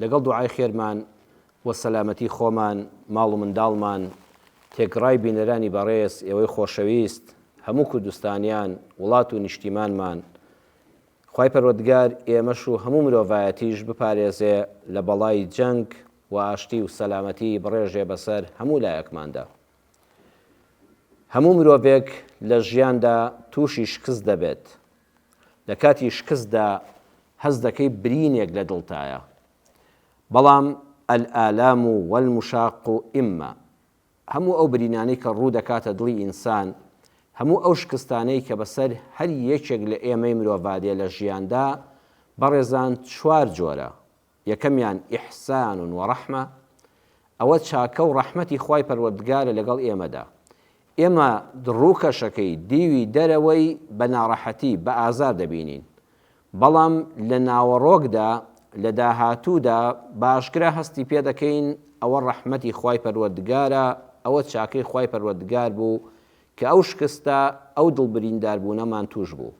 لەگەڵ دوعای خێرمان بۆ سەلامەتی خۆمان، ماڵ و منداڵمان، تێکڕای بینەرانی بەڕێز، ئێوەی خۆشەویست، هەموو کوردستانیان، وڵات و نیشتیمانمان. خوای پەروەردگار ئێمەش و هەموو مرۆڤایەتیش بپارێزێ لە بەڵای جەنگ و ئاشتی و سەلامەتی بڕێژێ بەسەر هەموو لایەکماندا. هەموو مرۆڤێک لە ژیاندا تووشی شکست دەبێت، لە کاتی شکستدا هەست دەکەی برینێک لە دڵتایە بەڵام، الآلام والمشاق اما، هەموو ئەو برینانەی کە ڕوو دەکاتە دڵی ئینسان، هەموو ئەو شکستانەی کە بەسەر هەر یەکێک لە ئێمەی مرۆڤادێ لە ژیاندا، بەڕێزان چوار جۆرە، یەکەمیان، احسان و رحمە، ئەوە چاکە و رەحمەتی خوای پەروەردگارە لەگەڵ ئێمەدا. ئێمە رووکەشەکەی، دیوی دەرەوەی، بە ناڕەحەتی، بە ئازار دەبینین. بەڵام لە ناوەڕۆکدا، لە داهاتوودا، باشکرا هەستی پێ دەکەین ئەوە رەحمەتی خوای پەروەردگارە، ئەوە چاکەی خوای پەروەردگار بوو کە ئەو شکستە، ئەو دڵبرینداربوونەمان تووش بوو.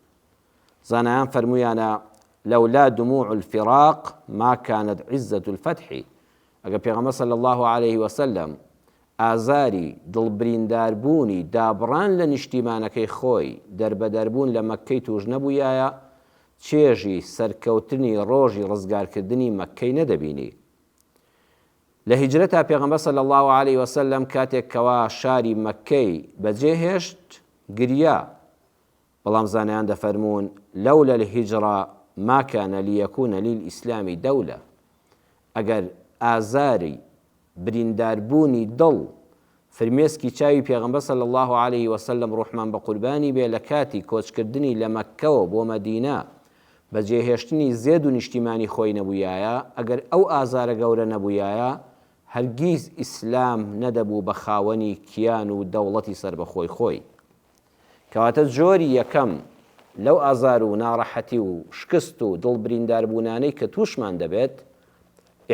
زانایان فەرموویانە، لولا دموع الفراق ما کانت عزە الفتح، ئەگەر پێغەمبەر صلی اللە علیە وسلم ئازاری دڵبرینداربوونی دابڕان لە نیشتیمانەکەی خۆی دەربەدەربوون لە مەککەی تووش نەبوویایە، چێژی سەرکەوتنی ڕۆژی ڕزگارکردنی مەککەی نەدەبینی. لە هیجرەتا پێغەمبەر صلی اللە علیە وسلم کاتێک کەوا شاری مەککەی بەجێهێشت گریا، بەڵام زانایان دەفەرموون، لولا الهجرە ما کان لیکون للاسلام دولە، ئەگەر ئازاری برینداربوونی دڵ فرمێسکی چاوی پێغەمبەر صلی اللە علیە وسلم ڕوحمان بە قوربانی بێ لە کاتی کۆچکردنی لە مەککەوە بۆ مەدینە بە جێهێشتنی زێد و نیشتیمانی خۆی نەبوویایە ئەگەر ئەو ئازارە گەورە نەبوویایە هەرگیز ئیسلام نەدەبوو بە خاوەنی کیان و دەوڵەتی سەربەخۆی خۆی. کەواتە جۆری یەکەم لەو ئازار و ناڕەحەتی و شکست و دڵ برینداربوونانەی کە تووشمان دەبێت،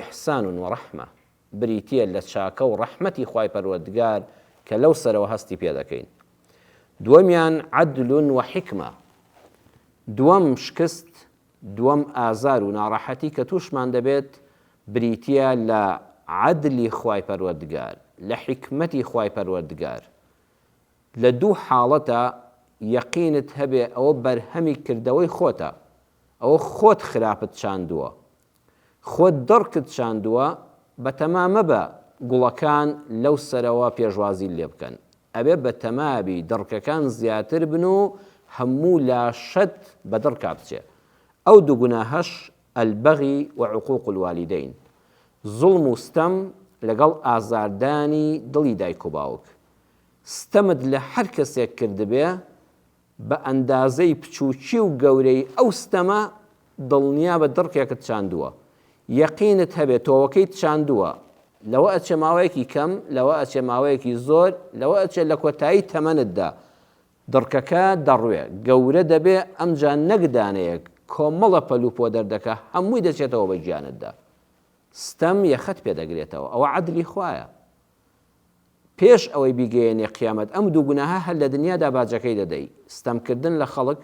احسان و رحمە، بریتییە لە چاکە و رەحمەتی خوای پەروەردگار کە لەو سەرەوە هەستی پێ دەکەین. دووەمیان عدل و حکمە، دووەم شکست، دووەم ئازار و ناڕەحەتی کە تووشمان دەبێت بریتییە لە عدلی خوای پەروەردگار، لە حیکمەتی خوای پەروەردگار. لە دوو حاڵەتە یەقینت هەبێ ئەوە بەرهەمی کردەوەی خۆتە، ئەوە خۆت خراپت چاندووە، خۆت دڕکت چاندووە، بەتەما مەبە گوڵەکان لەو سەرەوە پێشوازیت لێ بکەن، ئەبێ بەتەما بی دڕکەکان زیاتر بن و هەموو لاشەت بە دڕکا بچێ. ئەو دوو گوناهەش البغی و عقوق الوالدین، زوڵم و ستەم لەگەڵ ئازاردانی دڵی دایک و باوک، ستەمت لە هەر کەسێک کردبێ بە ئەندازەی بچووکی و گەورەیی ئەو ستەمە دڵنیابە دڕکێکت چاندووە یەقینت هەبێ تۆوەکەیت چاندووە لەوە ئەچێ ماوەیەکی کەم لەوە ئەچێ ماوەیەکی زۆر لەوە ئەچێ لە کۆتایی تەمەنتدا دڕکەکە دەڕوێ گەورە دەبێ ئەمجا نەک دانەیەک کۆمەڵە پەلوپۆ دەردەکە هەمووی دەچێتەوە بە گیانتدا ستەم یەخەت پێ دەگرێتەوە ئەوە عەدلی خوایە پێش ئەوەی بیگەیەنێ قیامەت ئەم دوو گوناهە هەر لە دنیادا باجەکەی دەدەی ستەم کردن لە خەڵک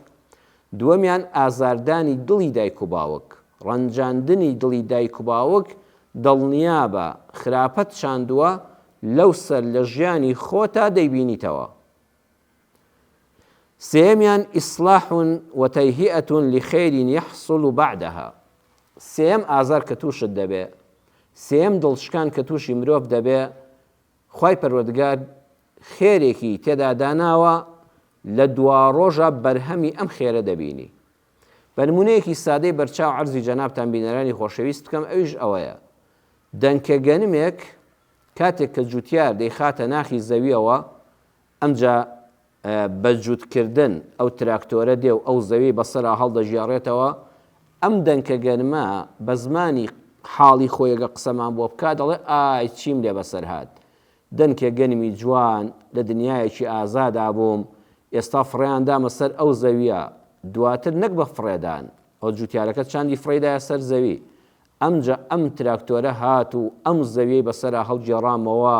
دووەمیان ئازاردانی دڵی دایک و باوک ڕەنجاندنی دڵی دایک و باوک دڵنیابە خراپەت چاندووە لەو سەر لە ژیانی خۆتا دەیبینیتەوە. سێیەمیان، اصلاح و تیهیئە لخیر یحصل بعدها، سێیەم ئازار کە تووشت دەبێ، سێیەم دڵشکان کە تووشی مرۆڤ دەبێ، خوای پەروەردگار خێرێکی تێدا داناوە لە دواڕۆژا بەرهەمی ئەم خێرە دەبینی. بە نموونەیەکی سادەی بەرچاو عەرزی جەنابتان بینەرانی خۆشەویست بکەم ئەویش ئەوەیە، دەنکە گەنمێک کاتێک کە جوتیار دەیخاتە ناخی زەویەوە، ئەمجا بە جووتکردن ئەو تراکتۆرە دێ و ئەو زەویەی بەسەرا هەڵدەگێڕێتەوە، ئەم دەنکە گەرمە بە زمانی حاڵی خۆی ئەگەر قسەمان بۆ بکا دەڵێ ئای چیم لێ بەسەر هات، دەنکێ گەنمی جوان لە دنیایەکی ئازادا بووم، ئێستا فڕێیان دامە سەر ئەو زەویە، دواتر نەک بە فڕێدان، ئەو جووتیارەکە چاندی فڕێی دایە سەر زەوی، ئەمجا ئەم تراکتۆرە هات و ئەم زەویەی بەسەرا هەڵگێڕامەوە،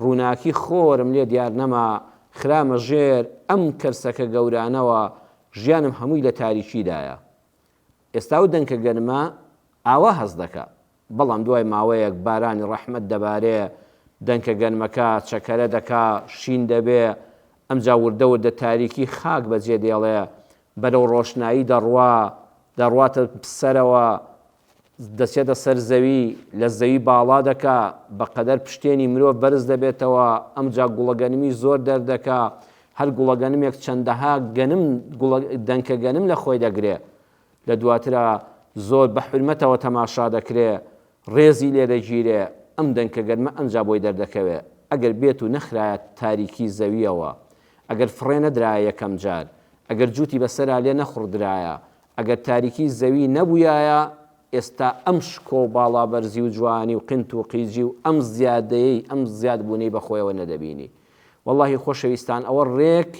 ڕووناکی خۆرم لێ دیار نەما، خرامە ژێر ئەم کەرسەکە گەورانەوە، ژیانم هەمووی لە تاریکیدایە. ئێستا ئەو دەنکە گەرمە ئاوا هەست دەکا، بەڵام دوای ماوەیەک بارانی ڕەحمەت دەبارێ، دەنکە گەرمەکە چەکەرە دەکا، شین دەبێ، ئەمجا وردە وردە تاریکی خاک بەجێ دێڵێ، بەرەو ڕۆشنایی دەڕوا، دەڕواتە سەرەوە، دەچێتە سەر زەوی، لە زەوی باڵا دەکا، بەقەدەر پشتێنی مرۆڤ بەرز دەبێتەوە، ئەمجا گوڵەگەنمی زۆر دەردەکا، هەر گوڵەگەنمێک چەندەها گەنم، گوڵە، دەنکە گەنم لە خۆی دەگرێ. لە دواترا زۆر بە حورمەتەوە تەماشا دەکرێ، ڕێزی لێ دەگیرێ ئەم دەنکە گەرمە ئەمجا بۆی دەردەکەوێ ئەگەر بێت و نەخرایە تاریکی زەوییەوە ئەگەر فڕێ نەدرایە یەکەم جار ئەگەر جووتی بە سەرا لێ نەخوڕدرایە ئەگەر تاریکی زەوی نەبوویایە ئێستا ئەم شکۆ و باڵابەرزی و جوانی و قنت و قیجی و ئەم زیادەیەی ئەم زیاد بوونەی بە خۆیەوە نەدەبینی وەڵاهی خۆشەویستان ئەوە ڕێک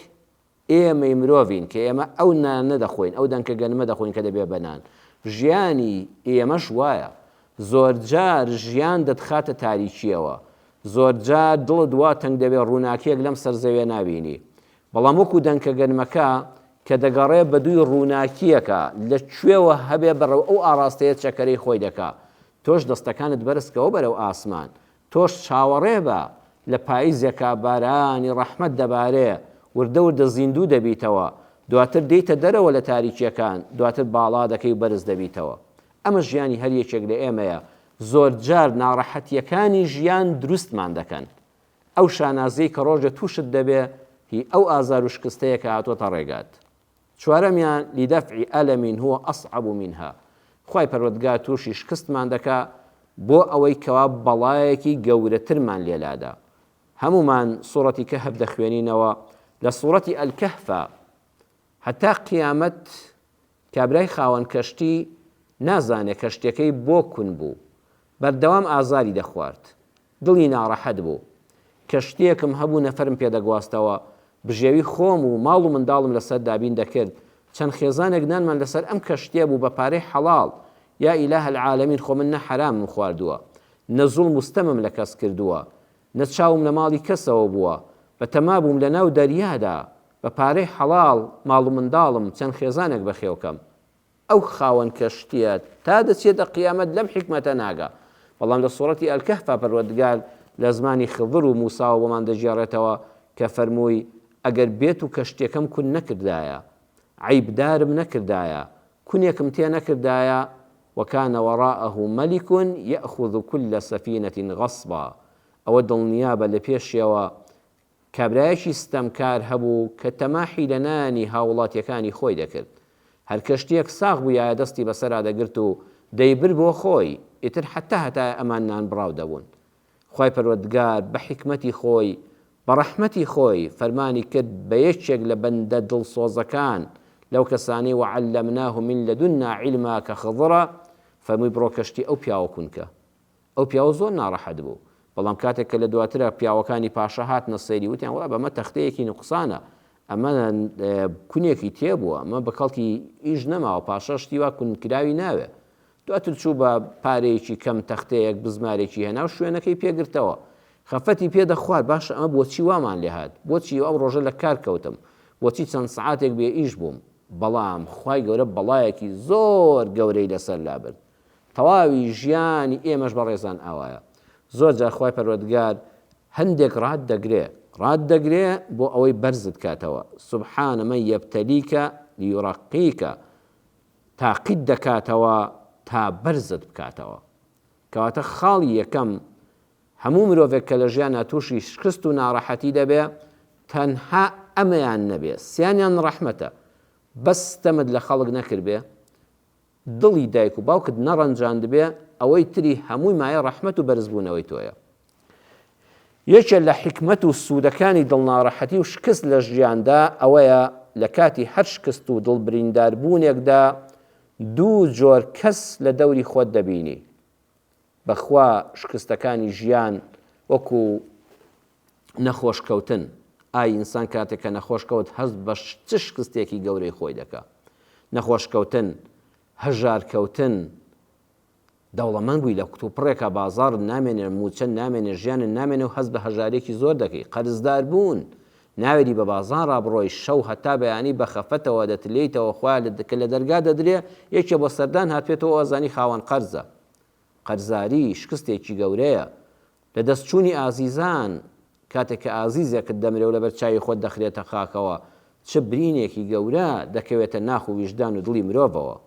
ئێمەی مرۆڤین کە ئێمە ئەو نانە دەخۆین، ئەو دەنکە گەنمە دەخۆین کە دەبێت بە نان. ژیانی ئێمەش وایە. زۆرجار ژیان دەتخاتە تاریکییەوە. زۆرجار دڵت وا تەنگ دەبێت ڕووناکییەک لەم سەر زەویە نابینی. بەڵام وەکو دەنکە گەنمەکە کە دەگەڕێت بەدووی ڕووناکییەکە، لە کوێوە هەبێت بەرەو ئەو ئاڕاستەیە چەکەرەی خۆی دەکات. تۆش دەستەکانت بەرز کەوە بەرەو ئاسمان. تۆش چاوەڕێ بە، لە پاییزێکا بارانی ڕەحمەت دەبارێ، وردە وردە زیندوو دەبیتەوە، دواتر دێیتە دەرەوە لە تاریکییەکان، دواتر باڵا دەکەی و بەرز دەبیتەوە. ئەمە ژیانی هەر یەکێک لە ئێمەیە، زۆرجار ناڕەحەتییەکانی ژیان دروستمان دەکەن. ئەو شانازییەی کە ڕۆژێ تووشت دەبێ، هی ئەو ئازار و شکستەیە کە هاتووەتە ڕێگات. چوارەمیان، لدفع الم هو اصعب منها، خوای پەروەردگار توشی شکستمان دەکا بۆ ئەوەی کەوا بەڵایەکی گەورەترمان لێلادا. هەموومان سورەتی کەهف دەخوێنینەوە لە سورەتی الکهفا هەتا قیامەت کابرای خاوەن کەشتی نازانێ کەشتیەکەی بۆ کون بوو بەردەوام ئازاری دەخوارد. دڵی ناڕەحەت بوو. کە شتێکم هەبوو نەفەرم پێ دەگواستەوە. بژێوی خۆم و ماڵ و منداڵم لەسەر دابین دەکرد. چەند خێزانێک نانمان لەسەر ئەم کەشتیە بوو بە پارەی حەڵاڵ. یا ئیلاه العالمین خۆ من نە حەرامم خواردووە. نە زوڵم و ستەمم لە کەس کردووە. نە چاوم لە ماڵی کەسەوە بووە. بە تەما بووم لە ناو دەریادا بە پارەی حەڵاڵ ماڵ و منداڵم چەند خێزانێک بەخێو کەم. ئەو خاوەن کەشتیە تا دەچێتە قیامەت لەم حیکمەتە ناگا بەڵام لە سورەتی الکهفا پەروەردگار لە زمانی خضر و موساوە بۆمان دەگێڕێتەوە کە فەرمووی ئەگەر بێتو کەشتیەکەم کون نەکردایە عەیب دارم نەکردایە کونێکم تێ نەکردایە وکان وراءه ملک یاخذ کل سفینە غصبا ئەوە دڵنیابە لە پێشیەوە کابرایەکی ستەمکار هەبوو کە تەماحی لە نانی هاووڵاتییەکانی خۆی دەکرد. هەر کە شتێک ساغ بوویایە دەستی بەسەرا دەگرت و دەیبرد بۆ خۆی، ئیتر حەتتا هەتایە ئەمان نانبڕاو دەبوون. خوای پەروەردگار بە حیکمەتی خۆی، بە ڕەحمەتی خۆی فەرمانی کرد بە یەکێک لە بەندە دڵسۆزەکان لەو کەسانەی وعلمناه من لدنا علما کە خضرە، فەرمووی بڕۆ کەشتی ئەو پیاوە کونکە. ئەو پیاوە زۆر ناڕەحەت بوو، بەڵام کاتێک کە لە دواترا پیاوەکانی پاشا هاتنە سەیری وتیان وەڵا بە مە تەختەیەکی نوقسانە، ئەمە کونێکی تێ بووە، ئەمە بە کەڵکی ئیش نەماوە، پاشا شتی وا کون کراوی ناوێ. دواتر چوو بە پارەیەکی کەم تەختەیەک بزمارێکی هێنا و شوێنەکەی پێ گرتەوە. خەفەتی پێ دەخوارد باشە ئەمە بۆچی وامان لێ هات؟ بۆچی ئەو ڕۆژە لە کار کەوتم؟ بۆچی چەند سەعاتێک بێ ئیش بووم؟ بەڵام خوای گەورە بەڵایەکی زۆر گەورەی لە سەر لابرد. تەواوی ژیانی ئێمەش بەڕێزان ئاوایە زۆر جار خوای پەروەردگار هەندێک ڕات دەگرێ ڕات دەگرێ بۆ ئەوەی بەرزت کاتەوە سبحان من یبتلیک لیرقیک تاقیت دەکاتەوە تا بەرزت بکاتەوە کەواتە خاڵی یەکەم هەموو مرۆڤێک کە لە ژیانا تووشی شکست و ناڕەحەتی دەبێ تەنها ئەمەیان نەبێ سیانیان ڕەحمەتە بەس ستەمت لە خەڵک نەکردبێ دڵی دایک و باوکت نەڕەنجاندبێ ئەوەی تری هەمووی مایە ڕەحمەت و بەرز بوونەوەی تۆیە یەکێ لە حیکمەت و سوودەکانی دڵ ناڕەحەتی و شکست لە ژیاندا ئەوەیە لە کاتی هەر شکست و دڵ بریندار بوونێکدا دوو جۆر کەس لە دەوری خۆت دەبینی بەخوا شکستەکانی ژیان وەکو نەخۆش کەوتن ئای ئینسان کاتێک کە نەخۆش کەوت هەست بە چ شکستێکی گەورەی خۆی دەکا نەخۆش کەوتن هەژار کەوتن دەوڵەمەند بووی لە کوتوپڕێکا بازاڕت نامێنێ موچەن نامێنێ ژیانن نامێنێ و هەست بە هەژارێکی زۆر دەکەی قەرزدار بوون ناوێری بە بازاڕ بڕۆی شەو هەتا بەیانی بە خەفەتەوە دەتلێیتەوە خۆا کە لە دەرگا دەدرێ یەکێ بۆ سەردان هاتوێتەوە وازانی خاوەن قەرزە قەرزاری شکستێکی گەورەیە لە دەست چوونی ئازیزان کاتێک کە ئازیزێکت دەمرێ و لەبەر چاوی خۆت دەخرێتە خاکەوە چ برینێکی گەورە دەکەوێتە ناخ و ویژدان و دڵی مرۆڤەوە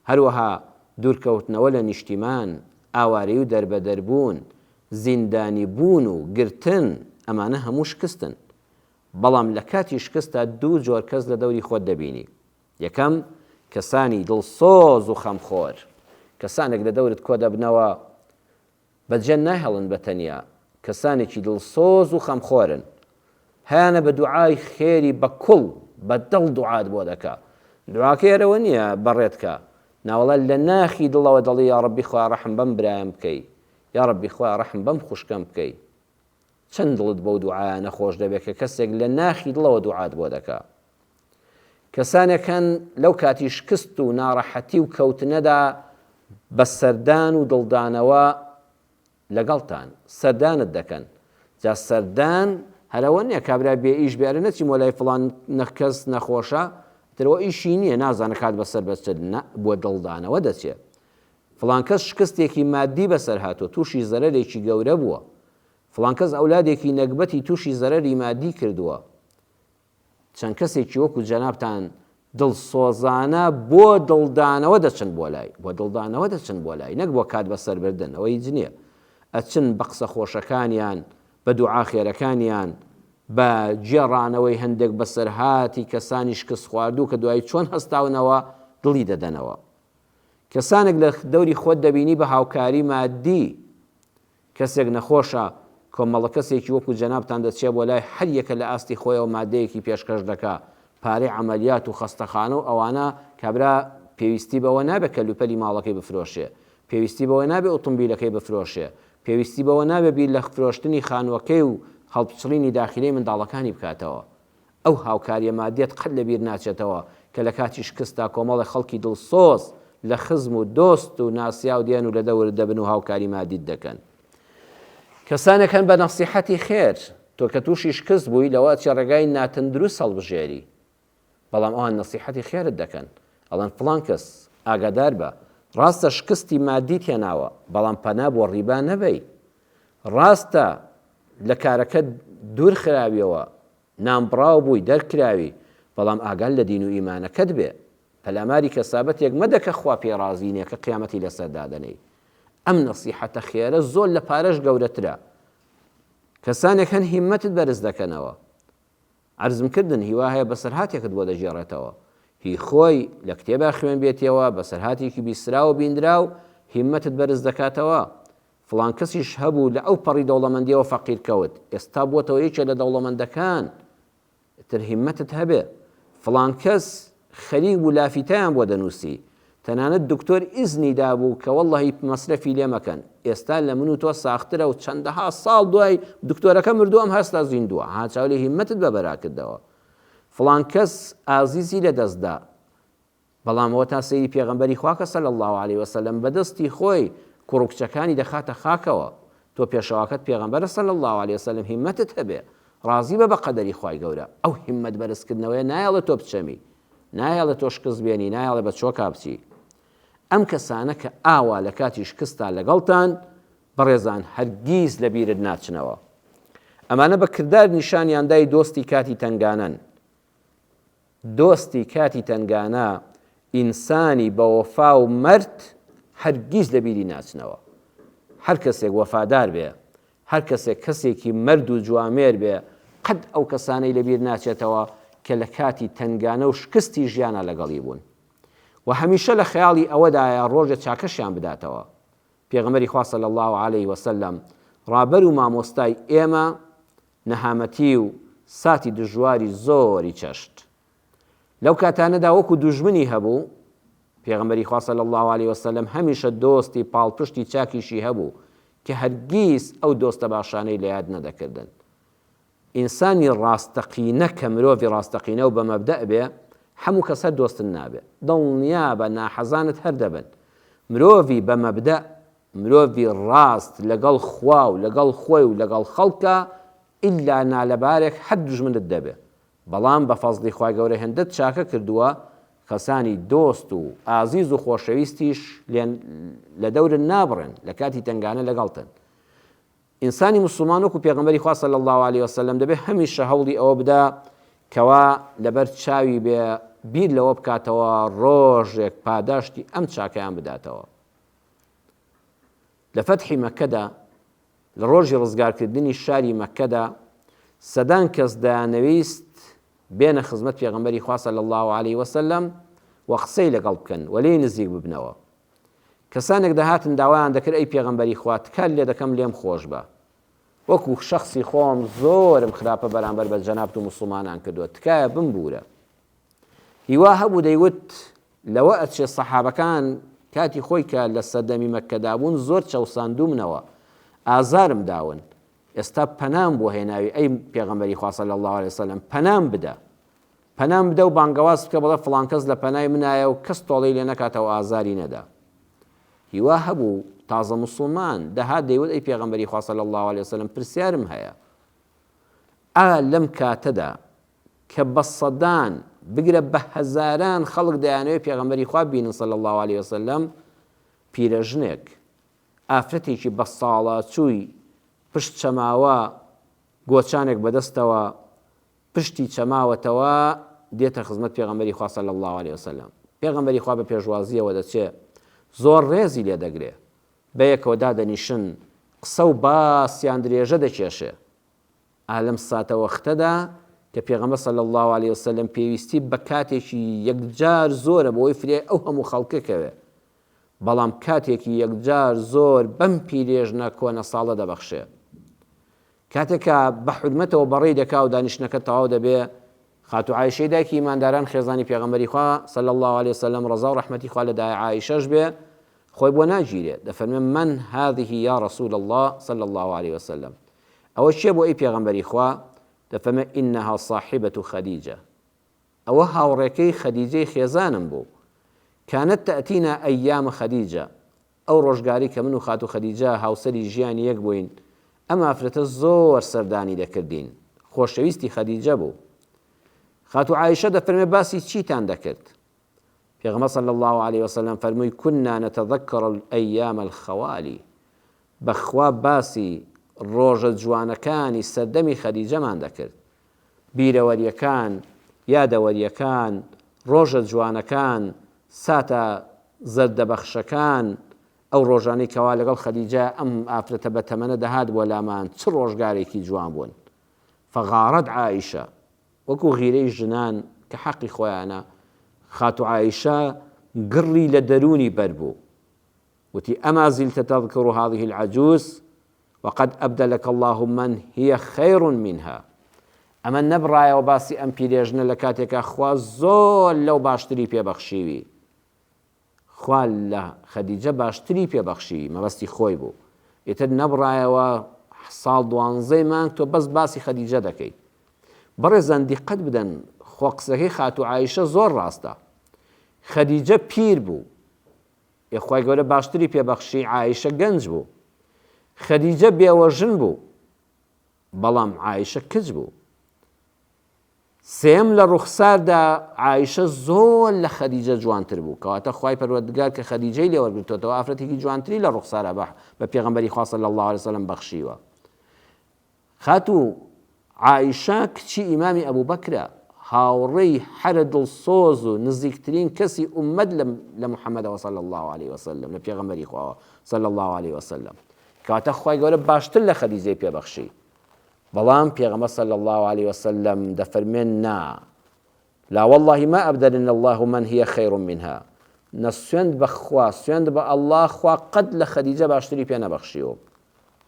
هەروەها دوورکەوتنەوە لە نیشتیمان، ئاوارەیی و دەربەدەربوون، زیندانیبوون و گرتن، ئەمانە هەموو شکستن. بەڵام لە کاتی شکستدا دوو جۆر کەس لە دەوری خۆت دەبینی. یەکەم، کەسانی دڵسۆز و خەمخۆر. کەسانێک لە دەورت کۆدەبنەوە بە جەند ناهێڵن بە تەنیا، کەسانێکی دڵسۆز و خەمخۆرن هەیانە بە دوعای خێری بە کوڵ بە دڵ دوعات بۆ دەکا دوعاکەی ئەرەوە نیە بەڕێت کا ناوەڵا لە ناخی دڵەوە دەڵی یاڕەبی خوا ڕەحم بەم برایم بکەی یاڕەبی خوا ڕەحم بەم خوشکەم بکەی چەند دڵت بەو دوعایانە خۆش دەبێ کە کەسێک لە ناخی دڵەوە دوعات بۆ دەکا. کەسانێک هەن لەو کاتی شکست و ناڕەحەتی و کەوتنەدا بە سەردان و دڵدانەوە لەگەڵتان سەردانت دەکەن جا سەردان هەرەوە نیە کابرا بێ ئیش بێرە نەچی مۆلای فڵان نەخکەس نەخۆشە ترەوە ئیشی نییە نازانە کات بەسەر بەچێت نە بۆ دڵدانەوە دەچێت فڵانکەس شکستێکی مادی بەسەر هاتۆ تووشی زەرەرێکی گەورە بووە فڵانکەس ئەولادێکی نەگبەتی تووشی زەرەری مادی کردووە چەند کەسێکی وەکو جەنابتان دڵسۆزانە بۆ دڵدانەوە دەچن بۆ لای، بۆ دڵدانەوە دەچن بۆ لای، نەک بۆ کات بەسەر بردن، ئەوە هیچ نیە، ئەچن بە قسە خۆشەکانیان، بە دوعا خێرەکانیان، بە گێڕانەوەی هەندێک بەسەرهاتی کەسانی شکستخواردوو کە دوایی چۆن هەستاونەوە دڵی دەدەنەوە. کەسانێک لە دەوری خۆت دەبینی بە هاوکاری مادی کەسێک نەخۆشە، کۆمەڵەکەسێکی وەکو جەنابتان دەچێ بۆ لای هەر یەکە لە ئاستی خۆیەوە مادەیەکی پێشکەش دەکا، پارەی عەمەلیات و خەستەخانە و ئەوانە، کابرا پێویستی بەوە نابێ کەلوپەلی ماڵەکەی بفرۆشێ، پێویستی بەوە نابێ ئوتومبیلەکەی بفرۆشێ، پێویستی بەوە نابێ بیر لە فرۆشتنی خانووەکەی و هەڵپچڕینی داخیلەی منداڵەکانی بکاتەوە. ئەو هاوکارییە مادیەت قەت لە بیر ناچێتەوە کە لە کاتی شکستدا کۆمەڵێک خەڵکی دڵسۆز لە خزم و دۆست و ناسیاو دێن و لە دەورت دەبن و هاوکاری مادیت دەکەن. کەسانێک هەن بە نەسیحەتی خێر، تۆ کە تووشی شکست بووی لەوە ئەچی ڕێگای ناتەندروست هەڵبژێری، بەڵام ئەوان نەسیحەتی خێرت دەکەن، ئەڵێن فڵان کەس، ئاگادار بە، ڕاستە شکستی مادیت هێناوە، بەڵام پەنا بۆ ڕیبا نەبەی، ڕاستە لە کارەکەت دوور خراویەوە نانبڕاو بووی دەرکراوی بەڵام ئاگات لە دین و ئیمانەکەت بێ پەلاماری کەسابەتێک مەدە کە خوا پێی ڕازی نیە کە قیامەتی لەسەر دادەنێی ئەم نەسیحەتە خێرە زۆر لە پارەش گەورەترە کەسانێک هەن هیمەتت بەرز دەکەنەوە عرزم کردن هیوا هەیە بەسەرهاتێکت بۆ دەگێڕێتەوە هی خۆی لە کتێبا خوێن بێتیەوە بەسەرهاتێکی بیسراوە بیندراو هیمەتت بەرز دەکاتەوە فڵان کەسیش هەبوو لە ئەو پەڕی دەوڵەمەندیەوە فەقیر کەوت ئێستا بووەتەوە یەکێ لە دەوڵەمەندەکان ئیتر هیمەتت هەبێ فڵان کەس خەریک بوو لافیتەیان بۆ دەنووسی تەنانەت دکتۆر ئیزنی دابوو کە وەڵڵەهی مەسرەفی لێ مەکەن ئێستا لە من و تۆ ساخترە و چەندەها ساڵ دوای دکتۆرەکە مردووە ئەم هەستا زیندووە ها چاو لێ هیمەتت بە بەراکردەوە فڵان کەس ئازیزی لە دەستدا بەڵام ئەوە تا سەیری پێغەمبەری خوا کە صلی اللە علیە وسلم بە دەستی خۆی کوڕو کچەکانی دەخاتە خاکەوە تۆ پێشەواکەت پێغەمبەرە صلی اللە علیە وسلم هیمەتت هەبێ ڕازی بە بە قەدەری خوای گەورە ئەو هیمەت بەرز کردنەوەیە نایەڵێ تۆ بچەمی نایەڵێ تۆ شکست بێنی نایەڵێ بە چۆکا بچی ئەم کەسانە کە ئاوا لە کاتی شکستا لەگەڵتان بەڕێزان هەرگیز لە بیرت ناچنەوە ئەمانە بە کردار نیشانیاندای دۆستی کاتی تەنگانەن دۆستی کاتی تەنگانە، ئینسانی بەوەفا و مەرد هەرگیز لەبیری ناچنەوە. هەر کەسێک وەفادار بێ، هەر کەسێک کەسێکی مەرد و جوامێر بێ، قەت ئەو کەسانەی لەبیر ناچێتەوە کە لە کاتی تەنگانە و شکستی ژیانا لەگەڵی بوون و هەمیشە لە خەیاڵی ئەوەدایە ڕۆژێ چاکەشیان بداتەوە. پێغەمبەری خوا صلی اللە علیە وسلم ڕابەر و مامۆستای ئێمە نەهامەتی و ساتی دژواری زۆری چەشت. لەو کاتانەدا وەکو دوژمنی هەبوو، پێغەمبەری خوا صلی اللە علیە وسلم هەمیشە دۆستی پاڵپشتی چاکیشی هەبوو کە هەرگیز ئەو دۆستە باشانەی لە یاد نەدەکردن. ئینسانی ڕاستەقینە کە مرۆڤی ڕاستەقینە و بە مەبدەء بێ، حەموو کەس هەر دۆستت نابێ. دڵنیابە ناحەزانت هەر دەبن. مرۆڤی بە مەبدەء مرۆڤی ڕاست لەگەڵ خوا و لەگەڵ خۆی و لەگەڵ خەڵکە ئیلا نالەبارێک حەت دوژمنت دەبێ بەڵام بە فەزڵی خوای گەورە هێندەت چاکە کردووە کەسانی دۆست و ئازیز و خۆشەویستیش لێن لە دەورن نابڕێن لە کاتی تەنگانە لەگەڵتن ئینسانی موسڵمان وەکو پێغەمبەری خوا صلی الله علیه وسلم دەبێ هەمیشە هەوڵی ئەوە بدا کەوا لەبەر چاوی بێ بیر لەوە بکاتەوە ڕۆژێک پاداشتی ئەم چاکەیان بداتەوە لە فەتحی مەککەدا، لە ڕۆژی ڕزگارکردنی شاری مەککەدا، سەدان کەس دەیانەویست بێنە خزمەت پێغەمبەری خوا صلی اللە علیە وسلم و قسەی لەگەڵ بکەن و لێی نزیک ببنەوە. کەسانێک دەهاتن داوایان دەکرد ئەی پێغەمبەری خوا تکات لێ دەکەم لێم خۆش بە. وەکو شەخسی خۆم زۆرم خراپە بەرامبەر بە جەنابت و موسڵمانان کردووە، تکایە بمبوورە. هیوا هەبوو دەیوت لەوە ئەچێ سەحابەکان کاتی خۆی کە لە سەردەمی مەککەدا بوون زۆر چەوساندوومنەوە ئازارم داون ئێستا پەنام بۆ هێناوی ئەی پێغەمبەری خوا صلی الله علیه وسلم پەنام بدە پەنام بدە و بانگەواز بکە بڵێ فڵان کەس لە پەنای منایە و کەس تۆڵەی لێ نەکاتەوە ئازاری نەدا هیوا هەبوو تازە مسلمان دەها دەیوت ئەی پێغەمبەری خوا صلی الله علیه وسلم پرسیارم هەیە ئا لەم کاتەدا کە بە سەدان، بگرە بە هەزاران خەڵک دەیانەوێت پێغەمبەری خوا ببینن صلی اللە علیە وسلم، پیرەژنێک، ئافرەتێکی بە ساڵاچووی پشت چەماوە، گۆچانێک بە دەستەوە، پشتی چەماوەتەوە، دێتە خزمەت پێغەمبەری خوا صلی اللە علیە وسلم، پێغەمبەری خوا بە پێشوازییەوە دەچێ، زۆر ڕێزی لێ دەگرێ، بەیەکەوە دادەنیشن، قسە و باسیان درێژە دەکێشێ. ئا لەم ساتەوەختەدا کە پێغەمبەر صلی اللە علیە وسلم پێویستی بە کاتێکی یەکجار زۆرە بۆی فرێ ئەو هەموو خەڵکە کەوێ بەڵام کاتێکی یەکجار زۆر بەم پیرێژنە کۆنە ساڵە دەبەخشێ کاتێکا بە حرمەتەوە بەڕێی دەکا و دانیشتنەکە تەواو دەبێ خاتو عیشەی دایکی ئیمانداران خێزانی پێغەمبەری خوا صلی الله عليه وسلم ڕزا و ڕحمەتی خوا لە دای عیشەش بێ خۆی بۆ ناگیرێ دەفەرمێ من هذه یا رسول الله صلی الله عليه وسلم ئەوە کێ بوو ئەی پێغەمبەری خوا؟ دەفەرمێ، انها صاحبە خدیجە، ئەوە هاوڕێکەی خدیجەی خێزانم بوو، کانت تاتینا ایام خدیجە، ئەو ڕۆژگاری کە من و خاتوو خدیجە هاوسەری ژیانی یەک بووین، ئەم ئافرەتە زۆر سەردانی دەکردین، خۆشەویستی خدیجە بوو. خاتوو عائیشە دەفەرمێ باسی چیتان دەکرد؟ پێغەمبەر صلی الله علیه وسلم فەرمووی، کنا نتذکر الایام الخوالی، بەخوا باسی ڕۆژە جوانەکانی سەردەمی خەدیجەمان دەکرد بیرەوەریەکان یادەوەریەکان ڕۆژە جوانەکان ساتە زەردە بەخشەکان ئەو ڕۆژانەی کەوا لەگەڵ خەدیجە ئەم ئافرەتە بەتەمەنە دەهات بۆ لامان چ ڕۆژگارێکی جوان بوون فغارت عائشە وەکو غیرەی ژنان کە حەقی خۆیانە خاتو عائشە گڕی لە دەرونی بەربوو وتی، اما زلت تذکر هذه العجوز وقد ابدلک اللە من هی خیر منها، ئەمە نەبڕایەوە باسی ئەم پیرێژنە لە کاتێکا خوا زۆر لەو باشتری پێ بەخشیوی، خوا لە خەدیجە باشتری پێ بەخشیوی، مەبەستی خۆی بوو، ئیتر نەبڕایەوە ساڵ دوانزەی مانگ تۆ بەس باسی خەدیجە دەکەی. بەڕێزان دیقەت بدەن خۆ قسەکەی خاتوو عائیشە زۆر ڕاستە. خەدیجە پیر بوو ئێ خوای گەورە باشتری پێ بەخشی عائیشە گەنج بوو خەدیجە بێوەژن بوو بەڵام عائیشە کچ بوو سێم لە ڕوخساردا عائیشە زۆر لە خەدیجە جوانتر بوو کەواتە خوای پەروەردگار کە خەدیجەی لێوەرگرتوەوە ئافرەتێکی جوانتری لە ڕوخسارە بە بە پێغەمبەری خوا صلی الله علیه وسلم بەخشیوە خاتوو عائیشە کچی ئیمامی ئەبوبەکرە، هاوڕێی هەرە دڵسۆز و نزیکترین کەسی ئوممەت لە محمدەوە صلی اللە علیە وسلم، لە پێغەمبەری خواوە صلی اللە علیە وسلم، کەواتە خوای گەورە باشتر لە خەدیجەی پێ بەخشی، بەڵام پێغەمبەر صلی اللە علیە وسلم دەفەرمێن نا، لا واللە ما ابدلن اللە من هی خیر منها نە سوێند بە خوا سوێند بە اللە خوا قەت لە خەدیجە باشتری پێ نەبەخشیوە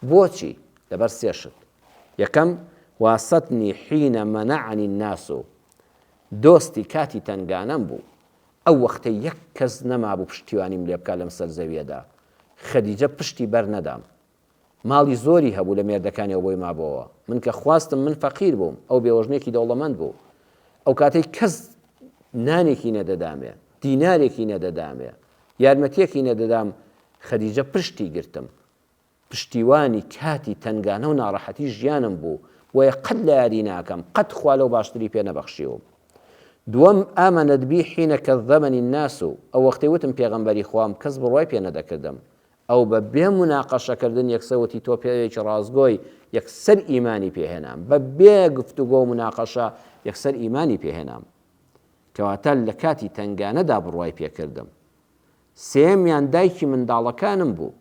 بۆچی لەبەر سێ شت یەکەم واستنی حین منعنی الناس دۆستی کاتی تەنگانەم بوو ئەو وەختەی یەک کەس نەمابوو پشتیوانیم لێ بکا لەم سەر زەویەدا خەدیجە پشتی بەر نەدام ماڵی زۆری هەبوو لە مێردەکانی ئەو بۆی مابۆوە من کە خواستم من فەقیر بووم ئەو بێوەژنێکی دەوڵەمەند بوو ئەو کاتەی کەس نانێکی نەدەدامێ دینارێکی نەدەدامێ یارمەتیەکی نەدەدام خەدیجە پشتی گرتم پشتیوانی کاتی تەنگانە و ناڕەحەتی ژیانم بوو بۆیە قەت لە یادی ناکەم قەت خوا لەو باشتری پێ نەبەخشیوم دووەم ئامەنەت بی حینە کە زەمەنی ناس و ئەو وەختی وتم پێغەمبەری خوام کەس بڕوای پێ نەدەکردم ئەو بە بێ مناقەشە کردن یەکسەر وتی تۆ پیاوێکی ڕاستگۆی، یەکسەر ئیمانی پێ هێنام، بە بێ گفتوگۆ و مناقەشە یەکسەر ئیمانی پێ هێنام. کەواتە لە کاتی تەنگانەدا بڕوای پێ کردم. سێیەمیان دایکی منداڵەکانم بوو.